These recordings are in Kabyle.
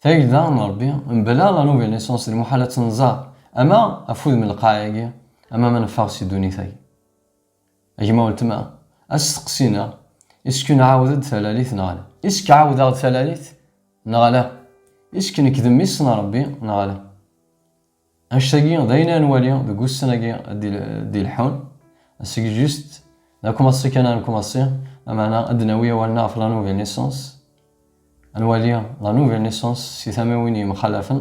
Tagelda n Rebbi, mebla la nouvelle naissance, d lmuḥal ad tt-nẓer, ama ɣef wudem n lqaɛa-agi, ama ma neffeɣ si ddunit-agi. A gma weltma, asteqsi-neɣ, Isk nɛawed-d talalit neɣ ala? Isk ɛawdeɣ-d talalit neɣ ala? Isk nekk d mmi-s n Rebbi neɣ ala? Annect-agi d ayen ara nwali deg ussan-agi d-ileḥḥun, seg just d akumaṣi kan ara nkumaṣi, lameɛna ad d-nawi awalen-a ɣef la nouvelle naissance, ad nwali la nouvelle naissance si tamiwin yemxalafen,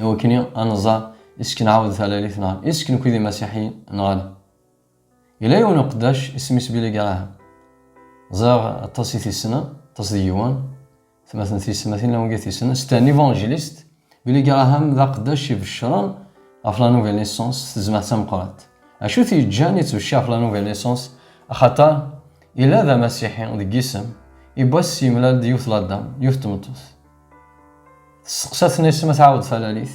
iwakken ad nẓer is-k nɛawed talalit neɣ is-k nekwi d imasiḥiyen neɣ ala. Yella yiwen uqeddac isem-is Billy Graham. Ẓriɣ aṭas i t-yessnen, aṭas d yiwen. Tmatin tiyesmatin lawan i t-yessnen. C'était un évangéliste. Billy Graham d aqeddac ibeccren ɣef la nouvelle naissance s tezmert tameqqrant. Acu t-yeǧǧan yettbecciṛ ɣef la nouvelle naissance? Axaṭer yella d amasiḥi deg yisem, ibass yemlal-d yiwet la dame, yiwet tmeṭṭut. Testeqsa-ten isem ad tɛawed talalit.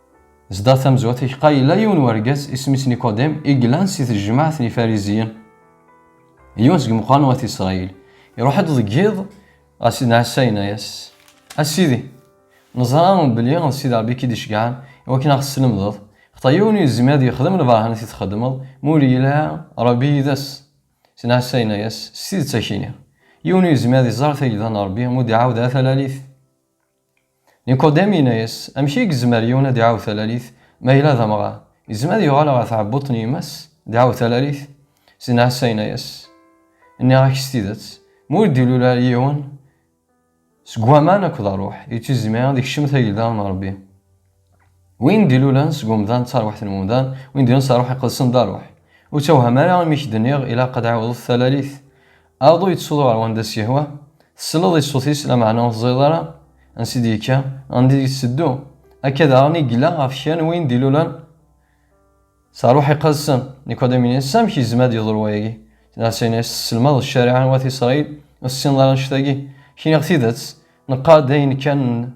Zdat tamezwat iḥeqqa yella yiwen wergaz isem-is Nikodim i yellan si tejmaɛt n Ifariziyen. Yiwen seg meqqran wat Isṛayil. Iruḥ-d deg yiḍ ɣer Sidna Ɛisa yenna-yas, A Sidi, neẓra belli d Sidi Ṛebbi i k-id-iceggɛen i wakken a ɣ-teslemdeḍ, xaṭer yiwen ur yezmir ad yexdem lberhanat i txeddmeḍ ma ur yili ara Ṛebbi yid-s. Sidna Ɛisa yenna-yas, S tidet a k-iniɣ, yiwen ur yezmir ad iẓer tagda n Ṛebbi ma ur d-iɛawed ara talalit. Nikodem yenna-as, Amek i yezmer yiwen ad iɛawed talalit ma yella d amɣar? Yezmer ad yuɣal ɣer tɛebbuḍt n yemma-s, ad iɛawed talalit? Syin Ɛisa yenna-as, Nniɣ-ak s tidet, ma ur d-ilul ara yiwen seg waman akked Ṛṛuḥ, ur yezmir ad ikcem tagelda n Ṛebbi. Win d-ilulen seg umdan d tarwiḥt n umdan, win d-ilulen s rruḥ iqedsen d rruḥ. Ur ttewhem ara imi k-d-nniɣ ilaq ad ɛiwḍet talalit. Aḍu yettsuḍu ɣer wanda s-yehwa, tselleḍ i ṣṣut-is lameɛna ur teẓriḍ ara ansi d-yekka, anda i d-yetteddu. Akka daɣen i yella ɣef kra n win d-ilulen s rruḥ iqedsen. Nikudimu-yas, Amek yezmer ad yeḍru wayagi? Ɛisa-yas, Tesselmadeḍ ccariɛa n wat Isṛayil, ur tessineḍ ara annect-agi? K-nniɣ tidet, neqqar-d ayen kan n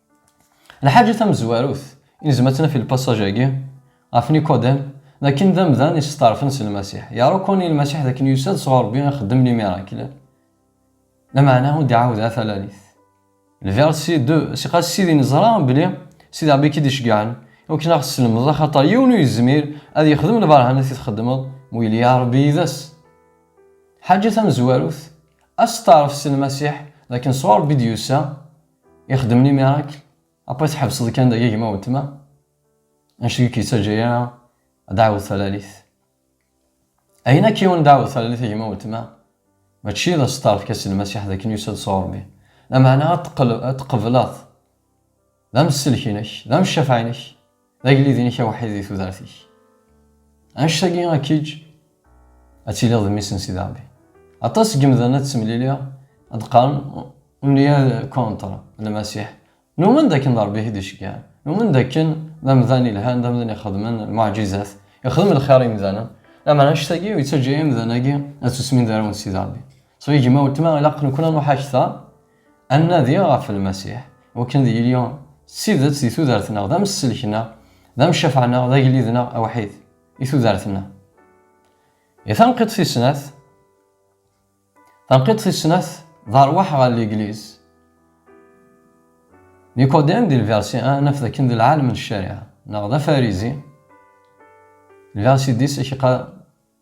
Lḥaǧa tamezwarut i nezmer ad tt-naf i lpasaj-agi ɣef Nikodem, d akken d amdan yesteɛṛfen s Lmasiḥ. Yeṛṛukuni Lmasiḥ d akken yusa-d sɣur Ṛebbi ixeddem limirakel, lameɛna ur d-iɛawed ara talalit. Lversi de, Siqas Sidi neẓra belli Sidi Ṛebbi i k-id-iceggɛen i wakken aɣ teslemdeḍ, axaṭer yiwen ur yezmir ad yexdem lberhanat i txeddmeḍ ma ur yelli ara Ṛebbi yid-s. Lḥaǧa tamezwarut, asteɛṛef s Lmasiḥ d akken sɣur Ṛebbi i d-yusa, ixeddem ni miracle après tḥebseḍ kan dagi gma weltma anect ur k-yettaǧǧa ara ad tɛawdeḍ talalit ayen akk yiwen dɛawdeḍ talalit a gma weltma mačči d aseṭṭaref kas n Lmasiḥ d akken yusa-d sɣur Ṛebbi lameɛna ad teqbleḍ d amsellek-inek d amcafeɛ-inek D agellid-inek awḥid di tudert-ik. Annect-agi ad k-iǧǧ ad tiliḍ d mmi-s n Sidi Ṛebbi. Aṭas seg yimdanen ad ttemliliɣ ad qqaren on y est contre le Masiḥ. Numen d akken d Ṛebbi i k-id-iceggɛen. Numen d akken d amdan yelhan, d amdan ixedmen lmuɛǧizat, ixdem lxir i yimdanen. Lameɛna annect-agi ur yettaǧǧa imdan-agi ad ssusmen d arraw n Sidi Ṛebbi. So, a gma, weltma, ilaq nekkni ad nṛuḥ akter. Ad nnadi ɣef Lmasiḥ, wakken d yili s tidet di tudert-nneɣ, d amesselk-nneɣ, d amcafeɛ-nneɣ, d agellid-nneɣ awḥid i tudert-nneɣ. I tanqiḍt tis snat? Tanqiḍt tis snat, d arwaḥ ɣer Legliz. Nikodem, di lversi a, naf dakken d lɛalem n ccariɛa, neɣ d afarizi. Lversi dix ak-iqqar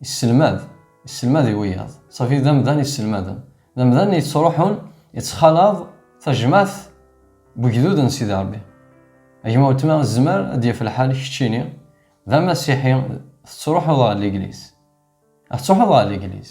Isselmad, isselmad i wiyaḍ. Safi d amdan isselmaden. D amdan yettruḥun yettxalaḍ tajmaɛt n ugdud n Sidi Ṛebbi. A gma weltma zmer ad d-yaf lḥal keččini d amasiḥi tettruḥuḍ ɣer ligliz. Ad tettruḥuḍ ɣer ligliz.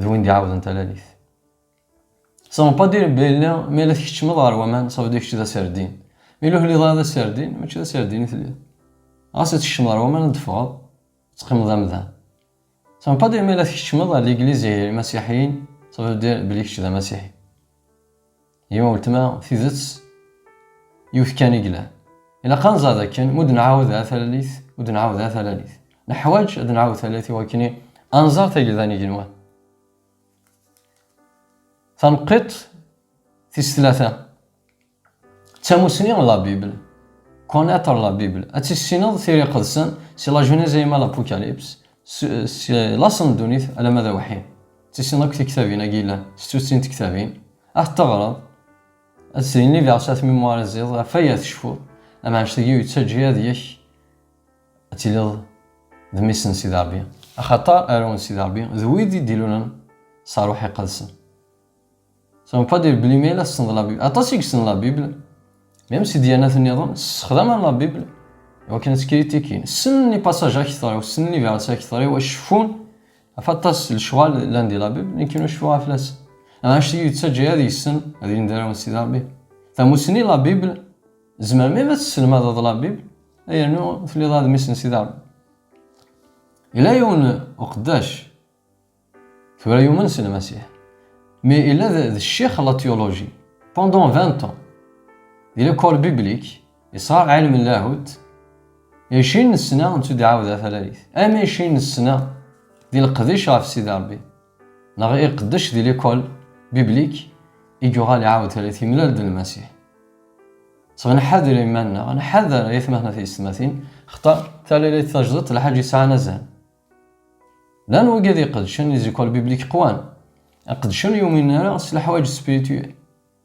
d win d-iɛawden talalit. Ça veut pas dire belli mi ara tkeččmeḍ ɣer waman, ça veut dire kečč d aserdin. Mi la ur ara d aserdin, mačči d aserdin i telliḍ. Ɣas ad tkeččmeḍ ɣer waman, ad d-teffɣeḍ, ad teqqimeḍ d amdan. Ça veut pas dire mi ara tkeččmeḍ ɣer L'église et les Masiḥiyin, ça veut dire belli kečč d Amasiḥi. Yima weltma, tidet yiwet kan i yellan. Ilaq ad nẓer dakken mu d-nɛawed ar talalit, ur d-nɛawed ara talalit. Neḥwaǧ ad nɛawed talalit i wakken ad nẓer tagelda n yigenwan. Taneqqiṭ tis tlata, d tamusni n la Bible, connaître la Bible, ad tissineḍ Tira Iqedsen si la Genèse alamma l'Apocalypse, si laṣel n ddunit alamma d awḥid. Ad tissineḍ akk tiktabin-agi yellan, s tuttin n tektabin. Ad t-teɣreḍ, ad d-srin libeɛs at Mémoire et Ziḍ ɣef waya tecfuḍ, amɛac-tagi ur yettaǧǧi ad yek ad tiliḍ d mmi-s n Sidi Ṛebbi, axaṭer arraw n Sidi Ṛebbi d wid i d-ilulen s Ṛṛuḥ Iqedsen. Ça ne veut pas dire belli ma yella tessneḍ la Bible, aṭas i yessnen la Bible, même si dyanat nniḍen ssexdamen la Bible iwakken ad ttkrittikin, ssnen lipasaǧ akteṛ-iw, ssnen libeɛs akteṛ-iw, acku cfun Afatas n lecɣal llan di labib, nekk ur cfiɣ ara fell-asen. Anect i yi-yettaǧǧa ad yessen ad ilin d arraw n Sidi Ṛebbi, tamussni La Bible, tzemrem mi ara tesselmadeḍ La Bible, ay rnu telliḍ ara d mmi-s n Sidi Ṛebbi. Yella yiwen uqeddac tura yumen s Lmasiḥ, mais yella d ccix n la théologie pendant vingt ans, il est corps biblique, Isra ɛilm n lahut, icin n ssna n tudɛawda talalit, am icin n ssna di leqdic ɣef Sidi Rebbi, neɣ iqeddec di likol biblik i yuɣal iɛawed talit yemlal-d Lmasiḥ. Sɣ nḥader iman-nneɣ, nḥader ayetmaten at yessetmatin, xaṭer talalit tajdiṭ lḥaǧ yesɛan azal. Llan wigad iqeddcen i zikol biblik qwan, iqeddcen ur yuminen ara s leḥwaǧ spirituel,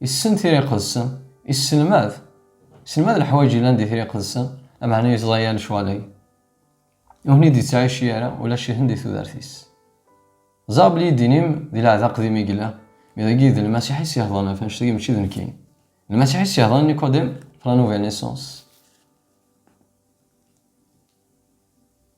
Issen tira iqedsen, isselmad. Iselmad leḥwayeǧ yellan di tira iqedsen, ameɛna yeẓẓa-ya lecɣal-agi. Ur ten-id-yettɛici ara, ulac ihen di tudert-is. Ẓer belli ddin-im di lɛehd aqdim i yella, mi dagi d Lmasiḥ i s-yehḍren ɣef annect-agi mačči d nekkini. D Lmasiḥ i s-yehḍren Nikodem, ɣef la nouvelle naissance.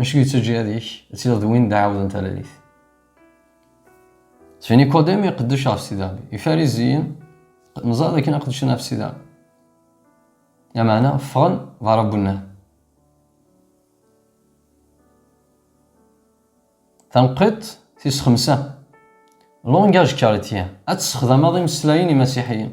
Acu yettaǧǧa ad ik ad tiliḍ d win d aɛawed n talalit? Seg Nikodem iqeddec ɣef Sidi Rebbi, Ifariziyen neẓra dakken ad qeddcen ɣef Sidi Rebbi. Lameɛna ffɣen d aṛabbu-nnan. Tanqiḍt tis xemsa, Langage chrétien, ad tessexdameḍ imeslayen imasiḥiyen.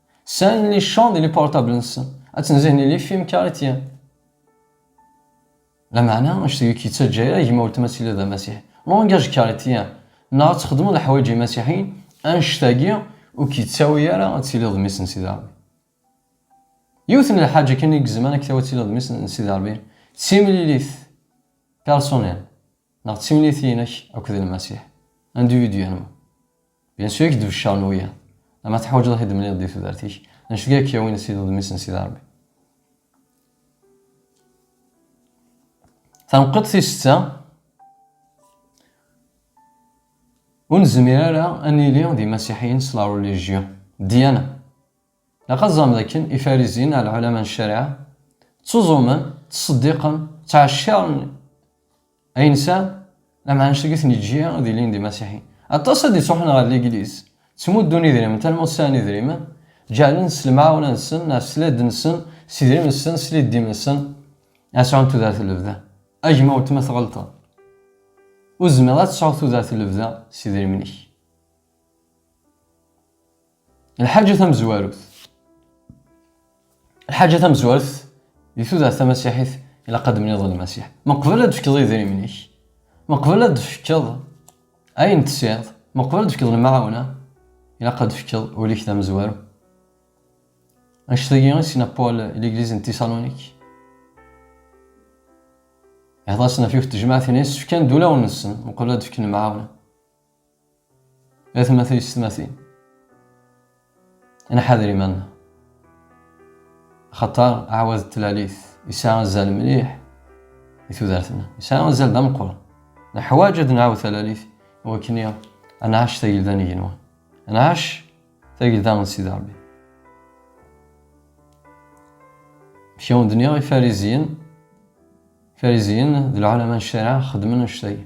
Sɛan les champs d les portables nsen. Ad tenzihen les films caritiens. Lameɛna, anect deg k-yettaǧǧa yir gma weltma ad tiliḍ d amasiḥi. Langage caritien, neɣ ad txedmeḍ leḥwayeǧ imasiḥiyen, anect-agi ur k-yettawi ara ad tiliḍ d mmi-s n Sidi Ṛebbi. Yiwet n lḥaǧa kan i gezman ad k-tawi ad tiliḍ d mmi-s n Sidi Ṛebbi, d timlilit, personnel. Neɣ d timlitin-ik akked Lmasiḥ, individuellement. Bien sûr i k-d-beccaṛen wiyaḍ. Ama teḥwaǧeḍ a t-id-temliḍ di tudert-ik, anect i ak-yawin ad tiliḍ d mmi-s n Sidi Ṛebbi. Tanqiḍt tis setta, Ur nezmir ara ad nili d imasiḥiyen s la religion, ddiyana, Ilaq ad teẓrem d akken Ifarizin, neɣ lɛulama n ccariɛa, ttuẓumen, ttṣeddiqen, ttɛecciṛen ayen sɛan, lameɛna ulac tagi ten-iǧǧi ad ilin d imasiḥiyen. Aṭas ad d-ittruḥen ɣer Ligliz, ttmuddun idrimen, talma ur sɛin idrimen, ǧeɛlen s lemɛawna-nsen, neɣ s ladn-nsen, s idrimen-nsen, s liddi-mensen, ad sɛun tudert n lebda. A gma weltma tɣelṭeḍ. Ur tezmireḍ ad tesɛuḍ tudert n lebda s idrimen-ik. Lḥaǧa tamezwarut. Lḥaǧa tamezwarut di tudert tamasiḥit ilaq ad d-mniḍ lmasiḥ. Ma qbel ad d-fkeḍ idrimen-ik, ma qbel ad d-fkeḍ ayen tesɛiḍ, ma qbel ad d-fkeḍ lemɛawna, ilaq ad d-fkeḍ ul-ik d amezwaru. Anect-agi i s-yenna Paul i ligliz n Tisalonik. Ihḍer-asen ɣef yiwet tejmaɛt-nni, yessefkan-d ulawen-nsen, ma qbel ad d-fken lemɛawna. Atma tuysetmatin, nḥader iman-nneɣ. Axaṭer aɛwad n tlalit yesɛa azal mliḥ i tudert-nneɣ, yesɛa azal d ameqqran. Neḥwaǧ ad nɛawed talalit i wakken i ad nɛac tagelda n igenwan, ad nɛac tagelda n Sidi Ṛebbi. Amek i awen-d-nniɣ, Ifariziyen, Ifariziyen d lɛulama n ccariɛa xeddmen annect-agi.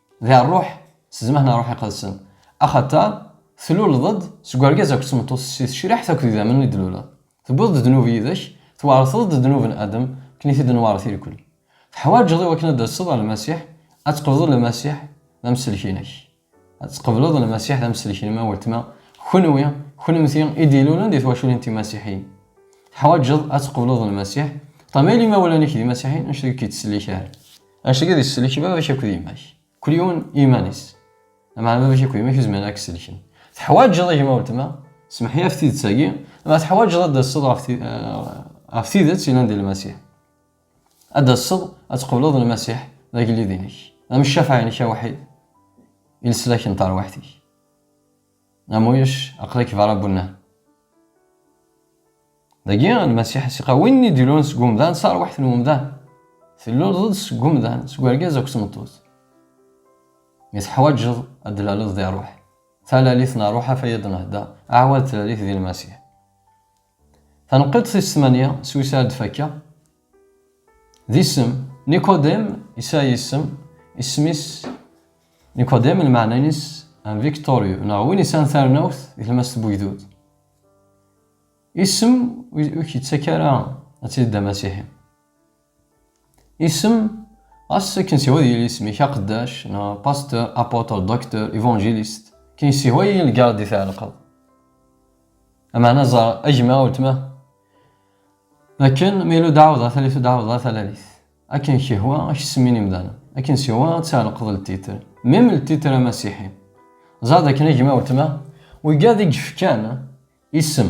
D rruḥ s zzman n Rruḥ Iqedsen. Axaṭer, tluleḍ-d seg urgaz akked tmeṭṭut si tecriḥt akked idammen i d-tluleḍ. Tewwiḍ-d ddnub yid-k, tweṛteḍ-d ddnub n Adam akken i t-id-nweṛṛet irkul. Teḥwaǧeḍ i wakken ad d-taseḍ ɣer Lmasiḥ, ad tqebḍeḍ Lmasiḥ d amsellek-inek. Ad tqebleḍ Lmasiḥ d amsellek-inem a weltma, kenwi, kennemti i d-ilulen di twaculin timasiḥiyin. Teḥwaǧeḍ ad tqebleḍ Lmasiḥ, ṭṭama i limawlan-ik d imasiḥiyen anect deg i k-ittsellik ara. Anect-agi ad isellek baba-k akked yemma-k. Kulyun i yiman-is. Lameɛna baba-k akked yemma-k ur zmiren ad k-sellken. Teḥwaǧeḍ a gma weltma, semmeḥ-iyi ɣef tidet-agi, lameɛna teḥwaǧeḍ ad d-tasseḍ ɣef ɣef tidet yellan di Lmasiḥ. Ad d-tasseḍ ad tqebleḍ Lmasiḥ d agellid-inek, d ameccafaɛ-inek awḥid, i leslak n terwiḥt-ik. Amuyec, aql-ik berra n wennar. Dagi, Lmasiḥ as-iqa, win i d-ilun seg umdan, s arwaḥt n umdan. Tluleḍ-d seg umdan, seg urgaz akked tmeṭṭut. Mi teḥwaǧeḍ ad d-tlaleḍ di rruḥ. Talalit n rruḥ, afayad n hda, aɛwad tlalit di Lmasiḥ. Taneqqiṭ tis tmanya s wis ara d-fakkeɣ, d isem, Nicodème yesɛa isem, isem-is Nicodème lmeɛna-ines un victorieux neɣ win yesɛan tarnawt di tlemmast n wegdud. Isem ur k-yettak ara ad tiliḍ d amasiḥi. Isem, ɣas akken siwa ad yili isem-ik aqeddac, neɣ pasteur, apôtre, docteur, évangéliste, kin siwa i lgarde i tɛelqeḍ. Ameɛna ẓer agma weltma. Akken ma yella udaɛwḍa talit udaɛwḍa talalit. Akken kihwa ak semmin imdanen. Akken siwa ad tɛelqeḍ ltitre. Même ltitre amasiḥi. Ẓer dakken agma weltma, wigad i yefkan isem.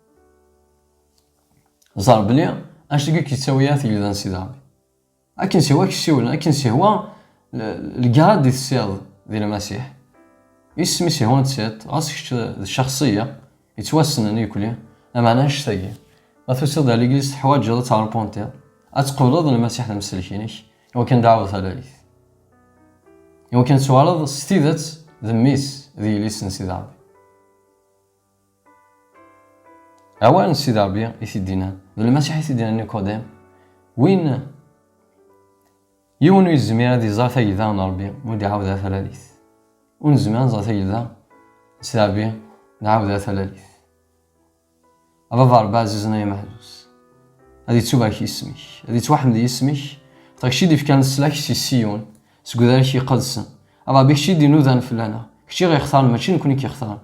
ẓer bli anect i k-yettawi a tegli d ansi d Rebbi akken sihwa k-siwlen akken sihwa lgrad i tessiḍ di lmasiḥ isem i sihwa tessiḍ ɣas kečč d cexsiya yettwassnen yekli amana anect-agi ma tusiḍ ar ligliz teḥwaǧeḍ ad tɛerpuntiḍ ad tqebleḍ lmasiḥ d amsellek-inek iwa kan dɛawed talalit iwa kan tuɣaleḍ s tidet d mmi-s d yelli-s n sida Rebbi Awal n Sidi Ṛebbi i t-id-inna, d Lmasiḥ i t-id-inna Nikodem, win yiwen ur yezmir ad iẓer tagelda n Ṛebbi ur d-iɛawed talalit. Ur nezmir ad nẓer tagelda n Sidi Ṛebbi nɛawed talalit. A Baba Ṛebbi ɛzizen ay ameḥzus, ad yettubarek yisem-ik, ad yettwaḥmed yisem-ik, xaṭer kečč i d-ifkan leslak si Siyun, seg udarak iqedsen. A Ṛebbi kečč i d-inudan fell-aneɣ, kečč i ɣ-ixtaren mačči nekkni i k-ixtaren.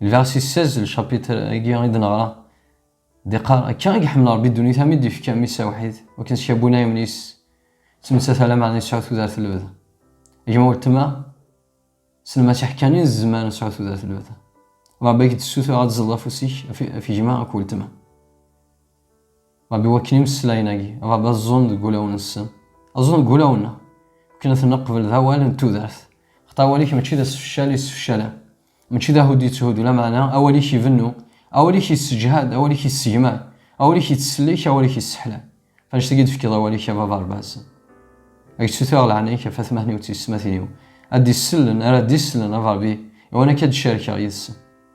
Lversis 16, lcapitr agi i d-neɣra, d-iqqar, Akka i iḥemmel Rebbi ddunit am i d-ifka mmi-s awḥid, wakken s yabun ayemni-s, ttmettat ala meɛna yesɛu tudert n lebda. Gma weltma, s lmasiḥ kan i nezmer nesɛu tudert n lebda. Rebbi ak-d-ssutureɣ ad tẓeḍ afus-ik ɣef gma ak weltma. Ṛebbi wakken imeslayen-agi, Ṛebbi aẓẓun deg wulawen-nsen, aẓẓun deg wulawen-nneɣ, wakken ad ten-neqbel d awal n tudert. Xaṭer awal-ik mačči d asefcal yessefcalen, mačči d ahuddu yetthuddu, lameɛna awal-ik ibennu, awal-ik yesseǧhad, awal-ik yessegmar, awal-ik yettsellik, awal-ik yesseḥlay. Ɣef annect-agi i d-tefkiḍ awal-ik a Baba Ṛbaz. Ad k-ssutreɣ leɛnaya-k ɣef atmaten-iw d teysetmatin-iw, ad d-isellen, ara d-isellen, a Ṛebbi, iwan akka ad d-carkeɣ yid-sen.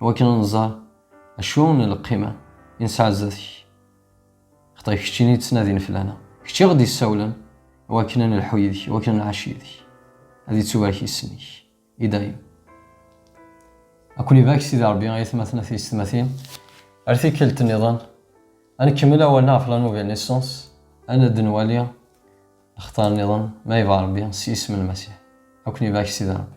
Iwakken ad nẓer acu n lqima i nesɛa zdat-k. Xaṭer d keččini i ttnadin fell-aneɣ. D kečč i ɣ-d-yessawlen iwakken ad nelḥu yid-k, iwakken ad nɛac yid-k. Ad ittubarek yisem-ik i dayem. Ad ken-ibarek Sidi Rebbi a aytmaten a tiysetmatin. Ar tikkelt nniḍen, ad nkemmel awalen ɣef la nouvelle naissance, ad d-nwali lextar nniḍen, ma yebɣa Rebbi, s yisem n Lmasiḥ. Ad ken-ibarek Sidi Rebbi.